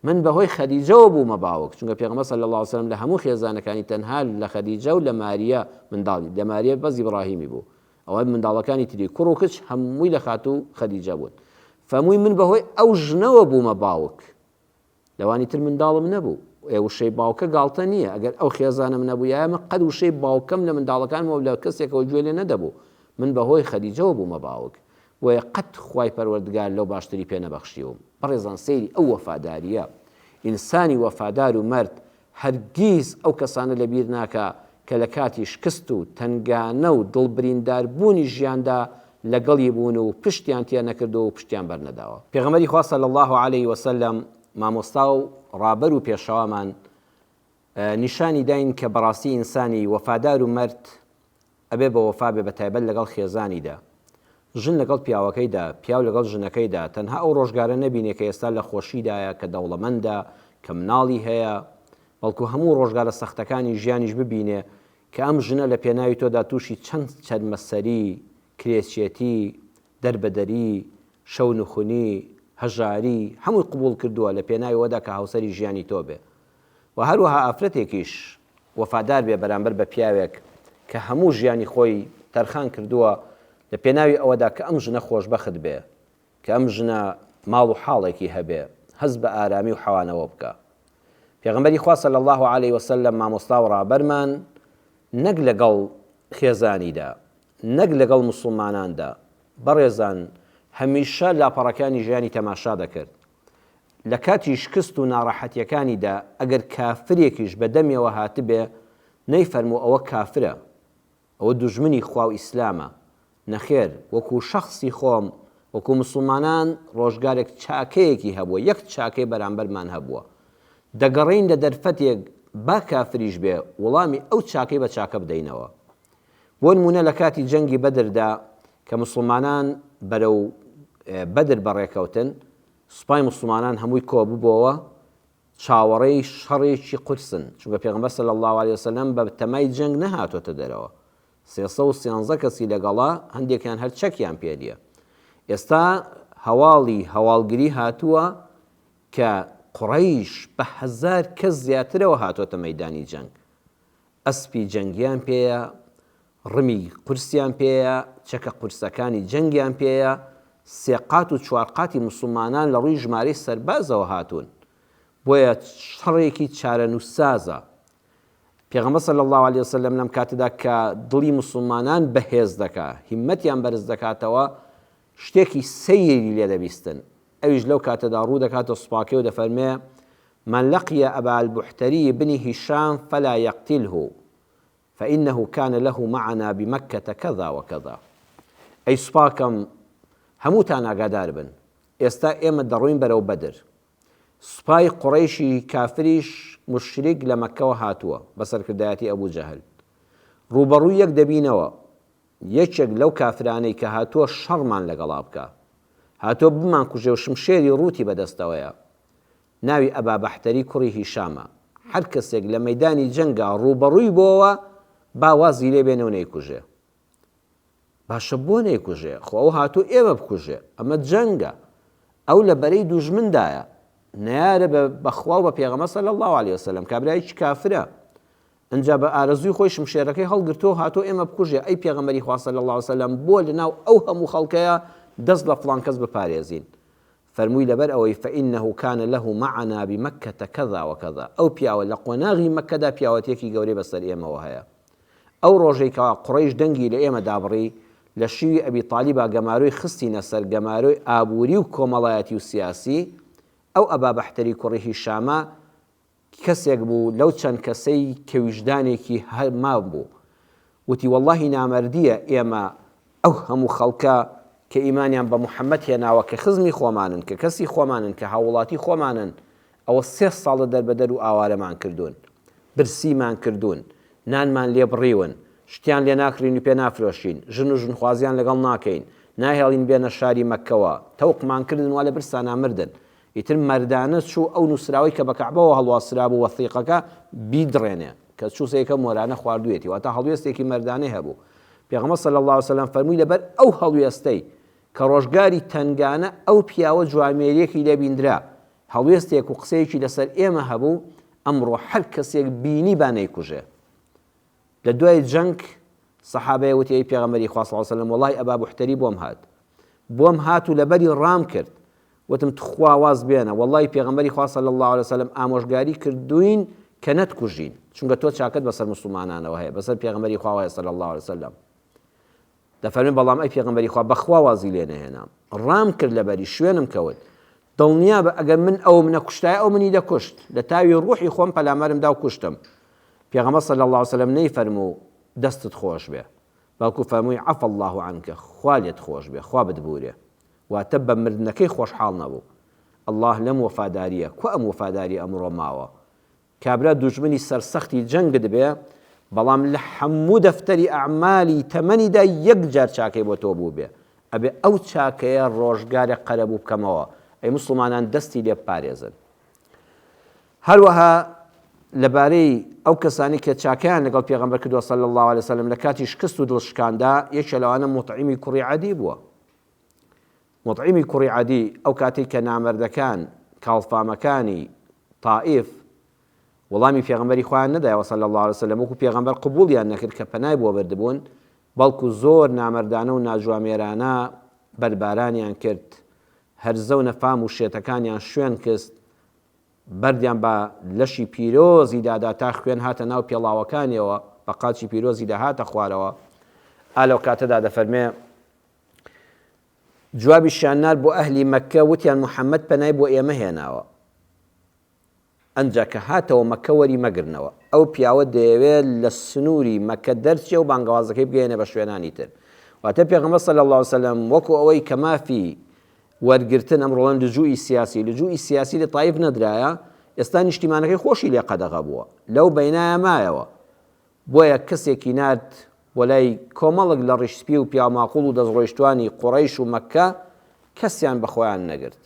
من بە هۆی خەدیجەوە بوومە باوک، چونکە پێغەمبەر صلی اللە علیە وسلم لە هەموو خێزانەکانی تەنها لە خەدیجە و لە ماریە منداڵی، لە ماریە بەس ئیبڕاهیمی بوو، ئەوە منداڵەکانی تری کوڕ و کچ هەمووی لە خاتوو خەدیجە بوون. فەرمووی من بەهۆی ئەو ژنەوە بوومە باوک. لەوانی تر منداڵم نەبوو. ئێ وشەی باوکە گاڵتە نییە، ئەگەر ئەو خێزانەم نەبوویایە من قەت وشەی باوکەم لە منداڵەکانمەوە لە کەسێکەوە گوێ لێ نەدەبوو. من بەهۆی خەدیجەوە بوومە باوک. بۆیە قەت خوای پەروەردگار لەو باشتری پێ نەبەخشیوم. بەڕێزان سەیری ئەو وەفادارییە. ئینسانی وەفادار و مەرد هەرگیز ئەو کەسانە لەبیر ناکا کە لە کاتی شکست و تەنگانە و دڵبریندار بوونی ژیاندا لەگەڵی بوون و پشتیان تێ نەکردووە و پشتیان بەر نەداوە. پێغەمبەری خوا صلی اللە علیه و سلم مامۆستا و ڕابەر و پێشەوامان نیشانی داین کە بەڕاستی ئینسانی وەفادار و مەرد ئەبێ بە وەفا بێ بە تایبەت لەگەڵ خێزانیدا ژن لەگەڵ پیاوەکەیدا پیاو لەگەڵ ژنەکەیدا تەنها ئەو ڕۆژگارە نەبینێ کە ئێستا لە خۆشیدایە کە دەوڵەمەندە کە مناڵی هەیە بەڵکو هەموو ڕۆژگارە سەختەکانی ژیانیش ببینێ کە ئەم ژنە لە پێناوی تۆدا تووشی چەند چەرمەسەری کرێچێتی دەربەدەری شەونخونی هەژاری هەمووی قبوڵ کردووە لە پێناوی وەدا کە هاوسەری ژیانی تۆ بێ و هەروەها ئافرەتێکیش وەفادار بێ بەرامبەر بە پیاوێک کە هەموو ژیانی خۆی تەرخان کردووە لە پێناوی ئەوەدا کە ئەم ژنە خۆشبەخت بێ، کە ئەم ژنە ماڵ و حاڵێکی هەبێ، هەست بە ئارامی و حەوانەوە بکا. پێغەمبەری خوا صلی اللە علیە وسلم مامۆستا و ڕابەرمان نەک لەگەڵ خێزانیدا، نەک لەگەڵ موسڵماناندا، بەڕێزان هەمیشە لاپەڕەکانی ژیانی تەماشا دەکرد، لە کاتی شکست و ناڕەحەتیەکانیدا ئەگەر کافرێکیش بە دەمیەوە هاتبێ نەیفەرموو ئەوە کافرە ئەوە دوژمنی خوا و ئیسلامە، نەخێر وەکو شەخسی خۆم وەکو موسڵمانان ڕۆژگارێک چاکەیەکی هەبووە یەک چاکەی بەرامبەرمان هەبووە دەگەڕێین لە دەرفەتێک با کافریش بێ وڵامی ئەو چاکەی بە چاکە بدەینەوە بۆ نموونە لە کاتی جەنگی بەدردا کە موسڵمانان بەرەو بەدر بەڕێکەوتن، سوپای موسڵمانان هەمووی کۆببۆوە، چاوەڕێی شەڕێکی قورسن، چونکە پێغەمبەر صلی اللە علیە وسلم بە تەمای جەنگ نەهاتۆتە دەرەوە، سێ سەد و سێزدە کەسی لەگەڵە، هەندێکیان هەر چەکیان پێ نیە. ئێستا هەواڵی هەواڵگری هاتووە کە قوڕەیش بە هەزار کەس زیاترەوە هاتۆتە مەیدانی جەنگ، ئەسپی جەنگیان پێیە، ڕمی قورسیان پێیە، چەکە قورسەکانی جەنگیان پێیە، سێ قات و چوار قاتی موسڵمانان لە ڕووی ژمارەی سەربازەوە هاتوون، بۆیە شەڕێکی چارەنووسسازە. پێغەمبەر صلی اللە علیە وسلم لەم کاتەدا کە دڵی موسڵمانان بەهێز دەکات، هیممەتیان بەرز دەکاتەوە، شتێکی سەیری لێ دەبیستن. ئەویش لەو کاتەدا ڕوو دەکاتە سوپاکەی و دەفەرمێ، من لقی ابا البحتری بن هشام فلا یقتله فانه کان له معنا بمکة کذا و کذا. ئەی سوپاکەم، هەمووتان ئاگادار بن، ئێستا ئێمە دەڕۆین بەرەو بەدر. سوپای قوڕەیشی کافریش، موشریک، لە مەککەوە هاتووە، بە سەرکردایەتی ابو جهل. ڕووبەڕووی یەک دەبینەوە. یەکێک لەو کافرانەی کە هاتووە شەڕمان لەگەڵا بکا، هاتووە بمانکوژێ و شمشێری ڕووتی بەدەستەوەیە، ناوی ئەبا بەحتەری کوڕی هیشامە، هەر کەسێک لە مەیدانی جەنگا ڕووبەڕووی بۆوە، با وازی لێ بێنێ و نەیکوژێ. باشە بۆ نەیکوژێ؟ خۆ ئەو هاتووە ئێمە بکوژێ، ئەمە جەنگە، ئەو لە بەرەی دوژمندایە، نەیارە بە بە خوا و بە پێغەمبەر صلی اللە علیە وسلم، کابرایەکی کافرە، ئنجا بە ئارەزووی خۆی شمشێرەکەی هەڵگرتووەو هاتووە ئێمە بکوژێ، ئەی پێغەمبەری خوا صلی اللە علیە وسلم بۆ لەناو ئەو هەموو خەڵکەیا دەست لە فڵان کەس بپارێزین؟ فەرمووی لەبەر ئەوەی فانه کان له معنا بمکة کذا و کذا، ئەو پیاوە لە قۆناغی مەککەدا پیاوەتیەکی گەورەی بەسەر ئێمەوە هەیە. ئەو ڕۆژەی کەوا قوڕەیش دەنگی لە ئێمە دابڕی لە شیوی ئەبی طالیبا گەمارۆی خستینە سەر گەمارۆی ئابووری و کۆمەڵایەتی و سیاسی، ئەو ئەبا بەحتەری کوڕی هیشامە کەسێک بوو لەو چەند کەسەی کە ویژدانێکی هه مام بوو وتی وەڵاهی نامەردیە ئێمە ئەو هەموو خەڵکە کە ئیمانیان بە محمد هێناوە کە خزمی خۆمانن کە کەسی خۆمانن کە هاووڵاتی خۆمانن ئەوە سێ ساڵە دەربەدەر و ئاوارەمان کردوون برسیمان کردوون نانمان لێ بڕیون شتیان لێ ناکڕین و پێ نافرۆشین ژن و ژنخوازیان لەگەڵ ناکەین ناهێڵین بێنە شاری مەککەوە تەوقمان کردن وا لە برسانا مردن ئیتر مەردانە چوو ئەو نووسراوەی کە بە کەعبەوە هەڵواسرابوو وەثیقەکە، بیدڕێنێ، کە چوو سێکە مۆرانە خواردوویەتی، واتە هەڵوێستێکی مەردانەی هەبوو. پێغەمبەر صلی اللە علیە وسلم فەرمووی لەبەر ئەو هەڵوێستەی کە ڕۆژگاری تەنگانە ئەو پیاوە جوامێریەکی لێ بیندرا، هەڵوێستێک و قسەیەکی لەسەر ئێمە هەبوو، ئەمڕۆ هەر کەسێک بینیبا نەیکوژێ. لە دوای جەنگ سەحابەیە وتی ئەی پێغەمبەری خوا صلی وسلم وەڵای ئەبا بوحتەری بۆم هات بۆم هات و لەبەری ڕام کرد وتم تخوا واز بێنە وەڵای پێغەمبەری خوا صلی الله عليه وسلم ئامۆژگاری کردوین کە نەتکوژین چونکە تۆ چاکەت بەسەر مسلمانانەوە هەیە بەسەر پێغەمبەری خواوەیە صلی الله عليه وسلم دەفەرمێ، بەڵام ئەی پێغەمبەری خوا، بەخوا وازی لێ نەهێنام، ڕام کرد لەبەری، شوێنم کەوت، دڵنیابە ئەگەر من ئەوم نەکوشتایە ئەو منی دەکوشت، لە تاوی ڕوحی خۆم پەلامارم داو کوشتم، پێغەمبەر صلی اللە علیە وسلم نەیفەرموو، دەستت خۆش بێ، بەڵکو فەرمووی، عفا اللە عنک، خوا لێت خۆش بێ، خوا بتبورێ، واتە بە مردنەکەی خۆشحاڵ نەبوو، اللە لەم وەفاداریە، کوا ئەم وەفاداریە ئەمڕۆ ماوە، کابرا دوژمنی سەرسەختی جەنگت بێ بەڵام لە حەموو دەفتەری ئەعمالی تەمەنیدا یەک جار چاکەی بۆ تۆ بووبێ ئەبێ ئەو چاکەیە ڕۆژگارێک قەرەبوو بکەمەوە ئەی موسڵمانان دەستی لێ بپارێزن هەروەها لەبارەی ئەو کەسانی کە چاکیان لەگەڵ پێغەمبەر کردووە صلی الله علیه وسلم لە کاتی شکست و دڵشکاندا یەکێ لەوانە مطعمی کوڕی عەدی بووە موطعیمی کوڕی عەدی ئەو کاتەی کە نامەردەکان، کاڵفامەکانی، تائیف، وڵامی پێغەمبەری خۆیان نەدایەوە صلی اللە علیە وسلم وەکو پێغەمبەر قبوڵیان نەکرد کە پەنای بۆ بردبوون، بەڵکو زۆر نامەردانە و ناجوامێرانە بەردبارانیان کرد، هەرزە و نەفام و شێتەکانیان شوێن کست، بەردیان بە لەشی پیرۆزیدا دا تا خوێن هاتە ناو پێڵاوەکانیەوە، بە قاچی پیرۆزیدا هاتە خوارەوە. ئا لەو کاتەدا دەفەرمێ. جوابیشیان نارد بۆ ئەهلی مەککە، وتیان محەمەد پەنای بۆ ئێمە هێناوە، ئەنجا کە هاتەوە مەککە وەری مەگرنەوە، ئەو پیاوە دەیەوێت لە سنووری مەککە دەرچێ و بانگەوازەکەی بگەیەنێ بە شوێنانی تر، واتە پێغەمبەر صلی اللە وسلم وەکو ئەوەی کە مافی وەرگرتن، ئەمڕۆ دەڵێن لجوئی سیاسی، لجوئی سیاسی لە تائیف نەدرایە، ئێستا نیشتیمانەکەی خۆشی لێ قەدەغە بووە، لەو بەینایە مایەوە، بۆیە کەسێکی نارد بۆ لای کۆمەڵک لە ڕیش سپی و پیاوماقوڵ و دەستڕۆیشتوانی قوڕەیش و مەککە، کەسیان بە خۆیان نەگرت.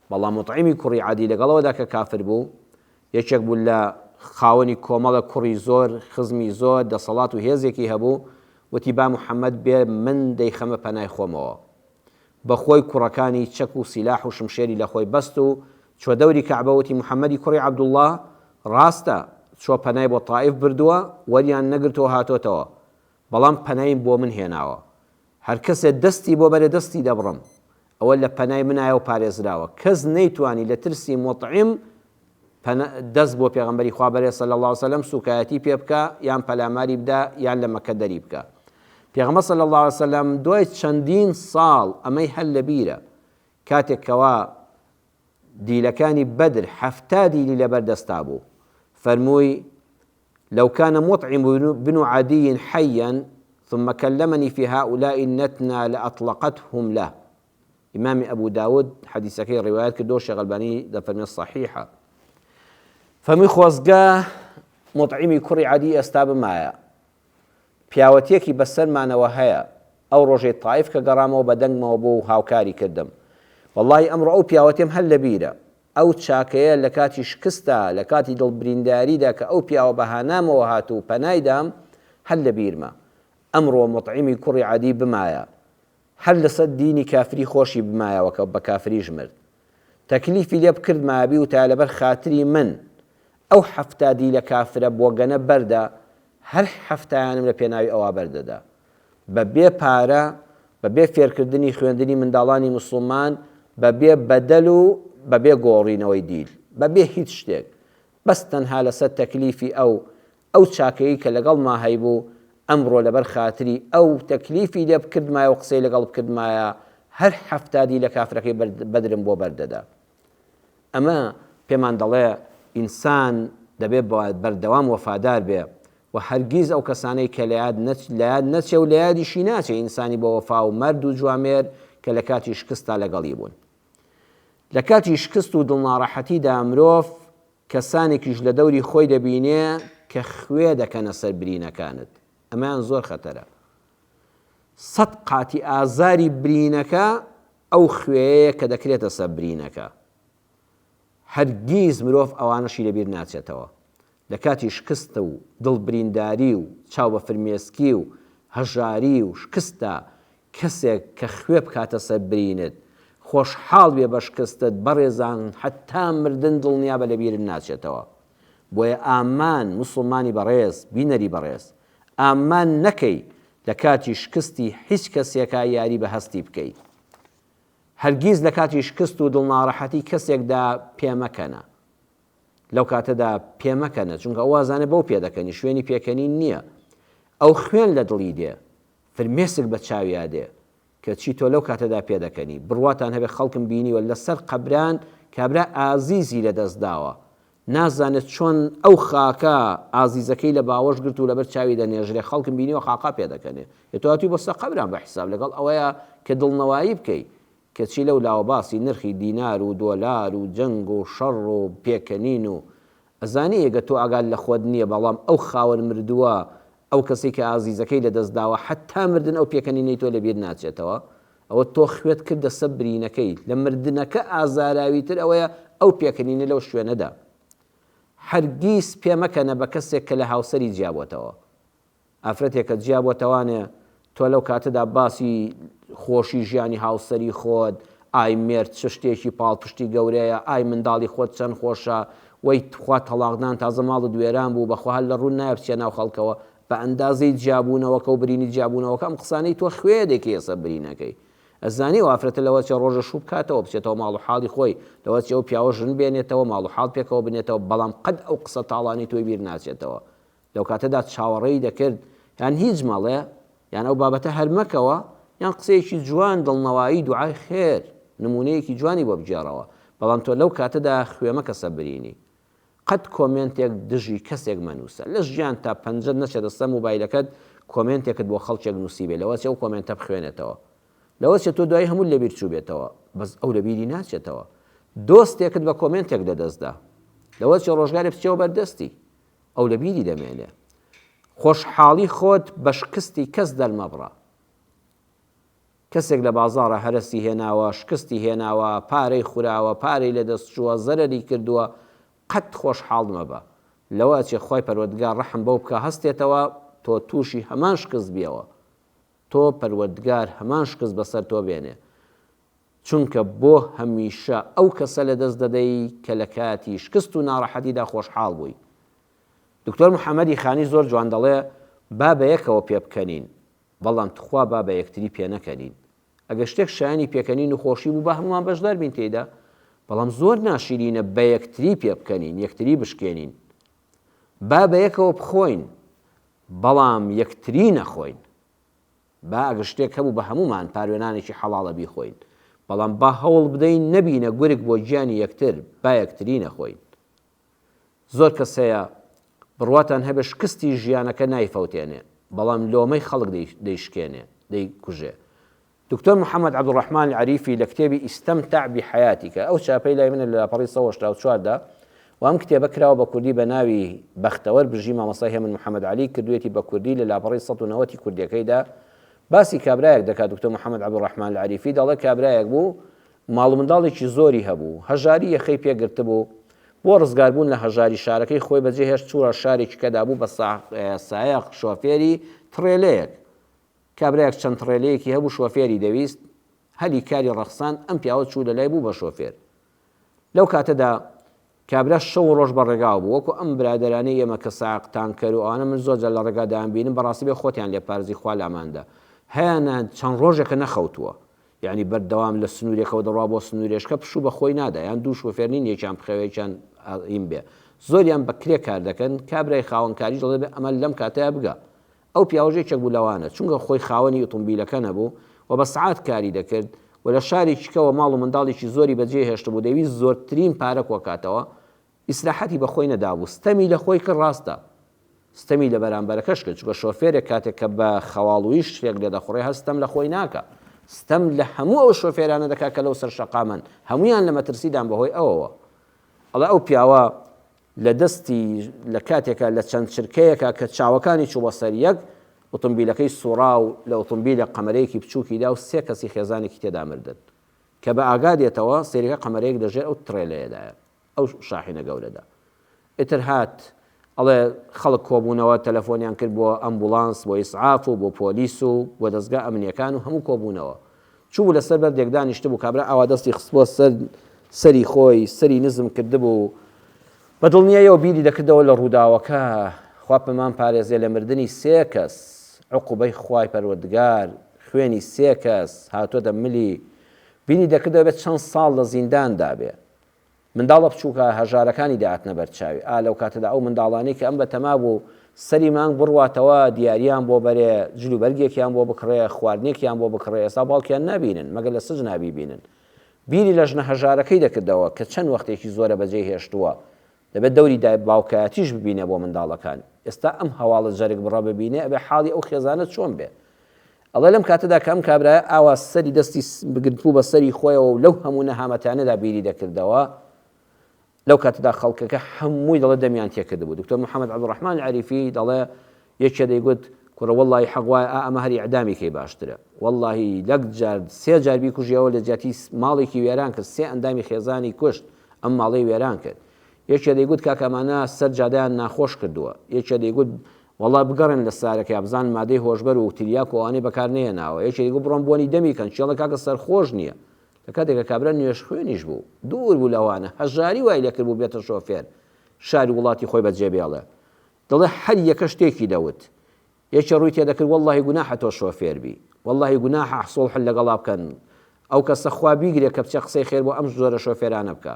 بەڵام موتعیمی کوڕی عەدی لەگەڵەوەدا کە کافر بوو، یەکێک بوو لە خاوەنی کۆمەڵە کوڕی زۆر، خزمی زۆر، دەسەڵات و هێزێکی هەبوو، وتی با محەممەد بێ من دەیخەمە پەنای خۆمەوە. بە خۆی کوڕەکانی چەک و سیلاح و شمشێری لە خۆی بەست و چوە دەوری کەعبە وتی محمدی کوڕی عبداللە ڕاستە چوە پەنای بۆ طائف بردوە وەریان نەگرتوە هاتۆتەوە بەڵام پەنایم بۆ من هێناوە هەر کەسێ دەستی بۆ بەرێ دەستی دەبڕم ئەوە لە پەنای منایەو پارێزراوە کەس نەیتوانی لە ترسی مطعم پەنا دەست بۆ پێغەمبەری خوا بەرێ صلی اللە وسلم سوکایەتی پێ بکە یان پەلاماری بدە یان لە مەکە دەری بکە پێغەمبەر صلی اللە وسلم دوای چەندین ساڵ ئەمەی هەر لە بیرە کاتێک کەوا دیلەکانی بەدر حەفتا دیلی لەبەر دەستا بوو فەرمووی لو كان مطعم بن عدي حيا ثم كلمني في هؤلاء النتنا لأطلقتهم له ئیمامی ئەبو داود حەدیسەکەی ڕیوایەت کردەوە شێخ ئەلبانی دەفەرمێت صحیحە فەرمی خۆزگە مطعیمی کوڕی عادی ئێستا بمایە پیاوەتیەکی بەسەرمانەوە هەیە ئەو ڕۆژەی تایف کە گەڕامەوە بە دەنگمەوە بۆ و هاوکاری کردم واللهی ئەمڕۆ ئەو پیاوەتێم هەر لەبیرە ئەو چاکەیە لە کاتی شکستا لە کاتی دڵ برینداریدا کە ئەو پیاوە بە هانامەوە هات و پەنایدام هەر لە بیرمە ئەمڕۆ مطعیمی کوڕی عادی بمایە هەر لەسەر دینی کافری خۆشی بمایەوە کە بە کافریش مرد تەکلیفی لێ بکردمایە بیوتایە لەبەر خاتری من ئەو حەفتا دیلە کافرە بۆگەنە بەردە هەر حەفتایانم لە پێناوی ئەوا بەردەدا بە بێ پارە بە بێ فێرکردنی خوێندنی منداڵانی موسڵمان بە بێ بەدەل و بە بێ گۆڕینەوەی دیل بە بێ هیچ شتێک بەس تەنها لەسەر تەکلیفی ئەو ئەو چاکەیی کە لەگەڵما هەیبوو، ئەمڕۆ لەبەر خاتری ئەو تەکلیفی لێ بکردمایە و قسەی لەگەڵ بکردمایە، هەر حەفتا دیلە کافرەکەی بەدرم بۆ بەر دەدا. ئەمە پێمان دەڵێ ئینسان دەبێ بەردەوام وەفادار بێ و هەرگیز ئەو کەسانەی کە لەیاد لەیاد نەچێ و لەیادیشی ناچێ ئینسانی بە وەفا و مەرد و جوامێر کە لە کاتی شکستدا لەگەڵی بوون. لە کاتی شکست و دڵناڕەحەتیدا مرۆڤ کەسانێکیش لە دەوری خۆی دەبینێ کە خوێ دەکەنە سەر برینەکانت ئەمەیان زۆر خەتەرە سەد قاتی ئازاری برینەکە ئەو خوێیەیە کە دەکرێتە سەر برینەکە هەرگیز مرۆڤ ئەوانەشی لەبیر ناچێتەوە لە کاتی شکست و دڵبرینداری و چاو بە فرمێسکی و هەژاری و شکستدا کەسێک کە خوێ بکاتە سەر برینت، خۆشحاڵ بێ بە شکستت بەڕێزان هەتا مردن دڵنیابە لە بیرت ناچێتەوە. بۆیە ئامان موسڵمانی بەڕێز، بینەری بەڕێز، ئامان نەکەی لە کاتی شکستی هیچ کەسێکا یاری بە هەستی بکەی. هەرگیز لە کاتی شکست و دڵناڕەحەتی کەسێکدا پێمەکەنە. لەو کاتەدا پێمەکەنە چونکە ئەو وازانێ بەو پێدەکەنی شوێنی پێکەنین نییە ئەو خوێن لە دڵی دێ فرمێسک بە چاویا دێ کە چی تۆ لەو کاتەدا پێدەکەنی بڕواتان هەبێ خەڵکم بینیوە لەسەر قەبران کابرا ئازیزی لەدەست داوە نازانێت چۆن ئەو خاکە ئازیزەکەی لە باوەش گرت و لەبەر چاوی دەنێژرێ خەڵکم بینیوە خاقا پێدەکەنێ یە تۆاتی بۆ سە قەبران بە حیساب لەگەڵ ئەوەیە کە دڵنەوایی بکەی کەچی لەو لاوە باسی نرخی دینار و دۆلار و جەنگ و شەڕ و پێکەنین و ئەزانی ئێگە تۆ ئاگات لە خۆت نیە بەڵام ئەو خاوەن مردووە ئەو کەسەی کە ئازیزەکەی لە دەست داوە حەتا مردن ئەو پێکەنینەی تۆ لە بیر ناچێتەوە ئەوە تۆ خوێت کردە سە برینەکەی لە مردنەکە ئازاراوی تر ئەوەیە ئەو پێکەنینە لەو شوێنەدا هەرگیز پێ مەکەنە بە کەسێک کە لە هاوسەری جیا بۆتەوە. ئافرەتێ کە جیا بۆ تەوانێ تۆ لەو کاتەدا باسی خۆشی ژیانی هاوسەری خۆت، ئای مێرد چ شتێکی پاڵپشتی گەورەیە، ئای منداڵی خۆت چەند خۆشە، وەی تخوا تەڵاقدان تازە ماڵت وێران بوو، بەخوا هەر لە ڕوون نایە بچیە ناو خەڵکەوە، بە ئەندازەی جیا بوونەوەکە و برینی جیا بوونەوەکە ئەم قسانەی تۆ خوێ دەکەیە سەر برینەکەی. ئەزانی ئەو ئافرەتە لەوە چێ ڕۆژێ شوو بکاتەوە بچێتەوە ماڵ و حاڵی خۆی، لەوە چێ ئەو پیاوە ژن بێنێتەوە ماڵ و حاڵ پێکەوە بنێتەوە، بەڵام قەت ئەو قسە تاڵانەی تۆی بیر ناچێتەوە. لەو کاتەدا چاوەڕێی دەکرد یان هیچ مەڵێ یان ئەو بابەتە هەر مەکەوە یان قسەیەکی جوان دڵنەوایی دوعای خێر نموونەیەکی جوانی بۆ بگێڕەوە بەڵام تۆ لەو کاتەدا خوێ مەکە سە برینی قەت کۆمێنتێک دژی کەسێک مەنووسە لە ژیانتا پەنجەت نەچێتە سە موبایلەکەت کۆمێنتێکت بۆ خەڵکێک نووسیبێ لەوە چێ ئەو کۆمێنتە بخوێنێتەوە لەوە چێ تۆ دوای هەموو لەبیر چووبێتەوە بەس ئەو لەبیری ناچێتەوە دۆستێکت بە کۆمێنتێک لەدەستدا لەوە چێ ڕۆژگارێ بچێەوە بەردەستی ئەو لە بیری دەمێنێ. خۆشحاڵی خۆت بە شکستی کەس دەرمەبڕە. کەسێک لە بازاڕا هەرەسی هێناوە، شکستی هێناوە، پارەی خوراوە، پارەی لە دەست چووە، زەرەری کردووە، قەت خۆشحاڵ مەبە. لەوە ئەچێ خوای پەروەردگار ڕەحم بەو بکا هەستێتەوە تۆ تووشی هەمان شکست بیەوە. تۆ پەروەردگار هەمان شکست بەسەر تۆ بێنێ. چونکە بۆ هەمیشە ئەو کەسە لەدەست دەدەی کە لە کاتی شکست و ناڕەحەتیدا خۆشحاڵ بووی. دکتۆر محەمەدی خانی زۆر جوان دەڵێ با بە یەکەوە پێبکەنین، بەڵام تخوا با بە یەکتری پێنەکەنین. ئەگەر شتێک شایەنی پێکەنین و خۆشی بوو با هەموومان بەشدار بین تێیدا، بەڵام زۆر ناشیرینە بە یەکتری پێبکەنین، یەکتری بشکێنین. با بە یەکەوە بخۆین، بەڵام یەکتری نەخۆین. با ئەگەر شتێک هەبوو بە هەموومان پاروێنانێکی حەڵاڵە بیخۆین، بەڵام با هەوڵ بدەین نەبینە گورگ بۆ گیانی یەکتر، با یەکتری نەخۆین. زۆر کەس هەیە بڕواتان هەبێ شکستی ژیانەکە نایفەوتێنێ، بەڵام لۆمەی خەڵک دەیشکێنێ، دەیکوژێ. دکتۆر محەمەد عەبدولڕەحمان عەریفی لە کتێبی ئیستەمتەع بی حەیاتیکە، ئەو چاپەی لای منە لە لاپەڕەی سەد و هەشتا و چوار دا، و ئەم کتێبە کراوە بە کوردی بە ناوی، بەختەوەر بژی مامۆستای هێمن محەمەد عەلی، کردوویەتی بە کوردی لە لاپەڕەی سەد و نەوەت ی کوردیەکەیدا باسی کابرایەک دەکات دکتۆر محەمەد عەبدولڕەحمان العریفی دەڵێت کابرایەک بوو ماڵ و منداڵێکی زۆری هەبوو هەژاری یەخەی پێ گرتبوو بۆ ڕزگار بوون لە هەژاری شارەکەی خۆی بەجێ هێشت چووە شارێکی کەدا بوو بە سایەق شۆفێری تڕێلەیەک کابرایەک چەند تڕێلەیەکی هەبوو شۆفێری دەویست هەلی کاری ڕەخساند ئەم پیاوە چوو لەلای بوو بە شۆفێر لەو کاتەدا کابرا شەو و ڕۆژ بە ڕێگاوە بوو، وەکو ئەم برادەرانەی ئێمە کە سایەق، تانکەر و ئەوانە من زۆر جار لە ڕێگا دایانبینم بەڕاستی بێ خۆتیان لێ پارزی خوا لاماندا هەیانە چەند ڕۆژێکە نەخەوتووە یانی بەردەوام لە سنورێکەوە دەڕوا بۆ سنورێشکە پشوو بە خۆی نادا یان دوو شۆفێر نین یەکیان بخەوێ یەکیان ئەڕیم بێ زۆریان بە کرێ کار دەکەن کابرای خاوەنکاریش دەڵێ ئەمە لەم کاتەیا بگا ئەو پیاوەش یەکێک بوو لەوانە، چونکە خۆی خاوەنی ئوتومبیلەکە نەبوو و بە سەعات کاری دەکرد و لە شارێکی کەوە ماڵ و منداڵێکی زۆری بەجێ هێشتبوو دەیویست زۆرترین پارە کۆکاتەوە، ئیسراحەتی بە خۆی نەدابوو، ستەمی لە خۆی کرد ڕاستە ستەمی لە بەرامبەرەکەش کرد، چونکە شۆفێرێک کاتێک کە بە خەواڵوویی شتێک لێ دەخوڕێ هەر ستەم لە خۆی ناکا ستەم لە هەموو ئەو شۆفێرانە دەکا کە لەو سەر شەقامەن هەموویان لە مەترسیدان بەهۆی ئەوەوە ئەڵێ ئەو پیاوە لە دەستی لە کاتێکا لە چەند چرکەیەکا کە چاوەکانی چوو بە سەر یەک، ئوتومبیلەکەی سوڕا و لە ئوتومبیلێک قەمەرەیەکی بچووکی دا و سێ کەسی خێزانێکی تێدا مردن. کە بە ئاگا دێتەوە، سەیرەکە قەمەرەیەک لە ژێر ئەو تڕێلەیەدایە، ئەو شاحینە گەورەدا. ئیتر هات، ئەڵێ، خەڵک کۆ بوونەوە، تەلەفۆنیان کرد بۆ ئەمبوڵانس، بۆ ئیسعاف و بۆ پۆلیس و بۆ دەزگا ئەمنییەکان و هەموو کۆ بوونەوە. چووبوو لە سەر بەردێک دانیشتبوو، کابرا ئاوا دەستی خستبووە سەر سەری خۆی، سەری نزم کردبوو، بە دڵنیاییەوە بیری دەکردەوە لە ڕووداوەکە، خوا پمان پارێزێ لە مردنی سێ کەس، عوقوبەی خوای پەروەردگار، خوێنی سێ کەس، هاتۆتە ملی، بیری دەکردەوە بێ چەند ساڵ لە زیندان دابێ، منداڵە بچووکە هەژارەکانی دەاتنە بەر چاوی، ئا لەو کاتەدا ئەو منداڵانەی کە ئەم بەتەما بوو سەری مانگ بڕواتەوە، دیاریان بۆ بەرێ، جل و بەرگێکیان بۆ بکڕێ، خواردنێکیان بۆ بکڕێ، ئێستا باوکیان نابینن، مەگەر لە سجنا بیبینن. بیری لە ژنە هەژارەکەی دەکردەوە کە چەند وەختێکی زۆرە بەجێی هێشتووە. دەبێ دەوری دای باوکایەتیش ببینێ بۆ منداڵەکان. ئێستا ئەم هەواڵە جەرگبڕە ببینێ ئەبێ حاڵی ئەو خێزانە چۆن بێ؟ ئەڵێ لەم کاتەدا کە ئەم کابرایە ئاوا سەری دەستی بگرتبوو بە سەری خۆیەوە و لەو هەموو نەهامەتانەدا بیری دەکردەوە، لەو کاتەدا خەڵکەکە هەمووی دەڵێ دەمیان تێکردبوو. دوکتۆر محەمەد عەبدولڕەحمان عەریفی دەڵێ یەکێ دەیگوت کوڕە وەڵڵاهی حەق وایە ئا ئەمە هەر ئیعدامی کەی باشترە. وەڵڵاهی لەک جار سێ جار بیکوژی ئەوە لە جیاتی ماڵێکی وێران کرد، سێ ئەندامی خێزانی کوشت، ئەم ماڵەی وێران کرد. یەکێ دەیگوت کاکە ئەمانە سەر جادەیان ناخۆش کردووە. یەکێ دەیگوت وەڵا بگەڕێن لە سارەکەیا بزانن مادەی هۆشبەر و تریاک و ئەوانەی بەکار نەهێناوە یەکێتی گوو بڕۆن بۆنی دەمی کەن چێڵە کاکە سەرخۆش نیە لە کاتێک کە کابرا نوێژ خوێنیش بوو دوور بوو لەوانە هەژاری وای لێ کردبوو بێتە شۆفێر شاری وڵاتی خۆی بەجێ بێڵێ دەڵێ هەر یەکە شتێکی دەوت یەکێ ڕووی تێدەکرد وەڵاهی گوناحە تۆ شۆفێر بی وەڵاهی گوناحە حسوڵح لەگەڵا بکەن ئەو کەسە خوا بیگرێ کە بچێ قسەی خێر بۆ ئەم جۆرە شۆفێرانە بکا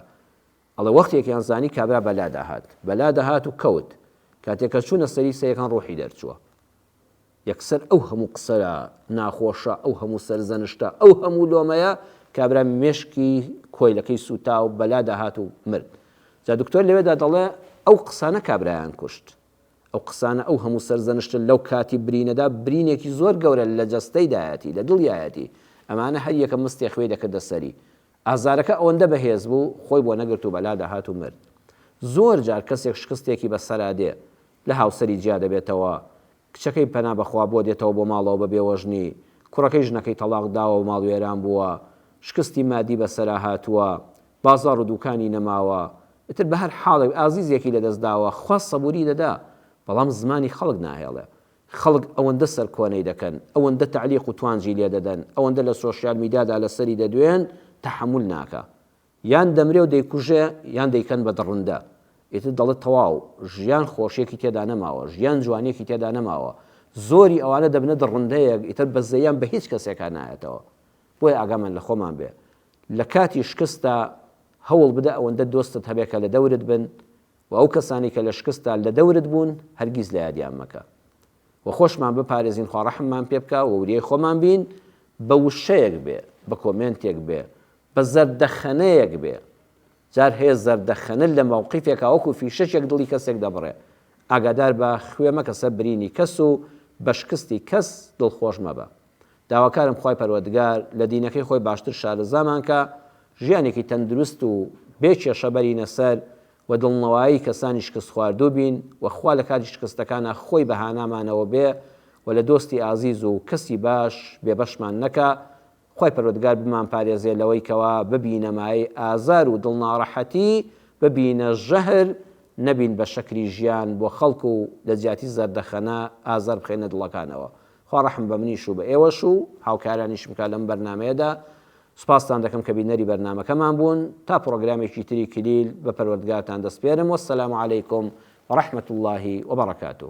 ئەڵێ وەختێکیان زانی کابرا بە لادا هات، بە لادا هات و کەوت، کاتێ کە چوونە سەری سەیەکان ڕووحی دەرچووە. یەکسەر ئەو هەموو قسە ناخۆشە، ئەو هەموو سەرزەنشتە، ئەو هەموو لۆمەیە، کابرا مێشکی کۆیلەکەی سووتا و بە لادا هات و مرد. جا دکتۆر لەوێدا دەڵێ ئەو قسانە کابرایان کوشت. ئەو قسانە، ئەو هەموو سەرزەنشتە لەو کاتی برینەدا برینێکی زۆر گەورە لە جەستەیدایەتی، لە دڵیایەتی. ئەمانە هەر یەکە مستێ خوێی دەکردە سەری. ئازارەکە ئەوەندە بەهێز بوو خۆی بۆ نەگرت و بەلا دەهات و مرد. زۆر جار کەسێک شکستێکی بە سەرا دێ، لە هاوسەری جیا دەبێتەوە، کچەکەی پەنا بە خوا بووە دێتەوە بۆ ماڵەوە بە بێوەژنی، کوڕەکەی ژنەکەی تەڵاق داوە و ماڵوێران بووە، شکستی مادی بە سەرا هاتووە، بازاڕ و دووکانی نەماوە، ئیتر بە هەر حاڵێک ئازیزێکی لە دەست داوە، خوا سەبووری دەدا، بەڵام زمانی خەڵک ناهێڵێ. خەڵک ئەوەندە سەرکۆنەی دەکەن، ئەوەندە تەعلیق و توانجی لێ دەدەن، ئەوەندە لە سۆشیال میدیادا لەسەری دەدوێن، تەحەمول ناکا. یان دەمرێ و دەیکوژێ، یان دەیکەن بە دڕندە. ئیتر دەڵێ تەواو، ژیان خۆشییەکی تێدا نەماوە، ژیان جوانییەکی تێدا نەماوە. زۆری ئەوانە دەبنە دڕندەیەک، ئیتر بەزەییان بە هیچ کەسێکا نایەتەوە. بۆیە ئاگامان لە خۆمان بێ. لە کاتی شکستدا هەوڵ بدە ئەوەندە دۆستت هەبێ کە لە دەورت بن، وە ئەو کەسانەی کە لە شکستدا لە دەورت بوون هەرگیز لە یادیان مەکە وە خۆشمان بپارێزین خوا ڕەحممان پێ بکا وە وریای خۆمان بین بە وشەیەک بێ بە کۆمێنتێک بێ بە زەردەخەنەیەک بێ جار هەیە زەردەخەنە لە مەوقیفێکا وەکو فیشەکێک دڵی کەسێک دەبڕێ ئاگادار بە خوێ مەکە سەر برینی کەس و بە شکستی کەس دڵخۆش مەبە داواکارم خوای پەروەردگار لە دینەکەی خۆی باشتر شارەزامان کا ژیانێکی تەندروست و بێ کێشە بەرینە سەر و دڵنەوایی کەسانی شکست خواردوو بین و خوا لە کاتی شکستەکانا خۆی بە هانامانەوە بێ و لە دۆستی ئازیز و کەسی باش بێ بەشمان نەکا خوای پەروەردگار بمان پارێزێ لەوەی کەوا ببینە مایەی ئازار و دڵناڕەحەتی ببینە ژەهر نەبین بە شەکری ژیان بۆ خەڵک و لە جیاتی زەردەخەنە ئازار بخەینە دڵەکانەوە خوا ڕەحم بە منیش و بە ئێوەش و هاوکارانیشم بکات لەم بەرنامەیەدا، سوپاستان دەکەم کە بینەری بەرنامەکەمان بوون، تا پڕۆگرامێکی تری کلیل بە پەروەردگارتان دەسپێرم، والسلام علیکم ورحمة اللە وبرکاته.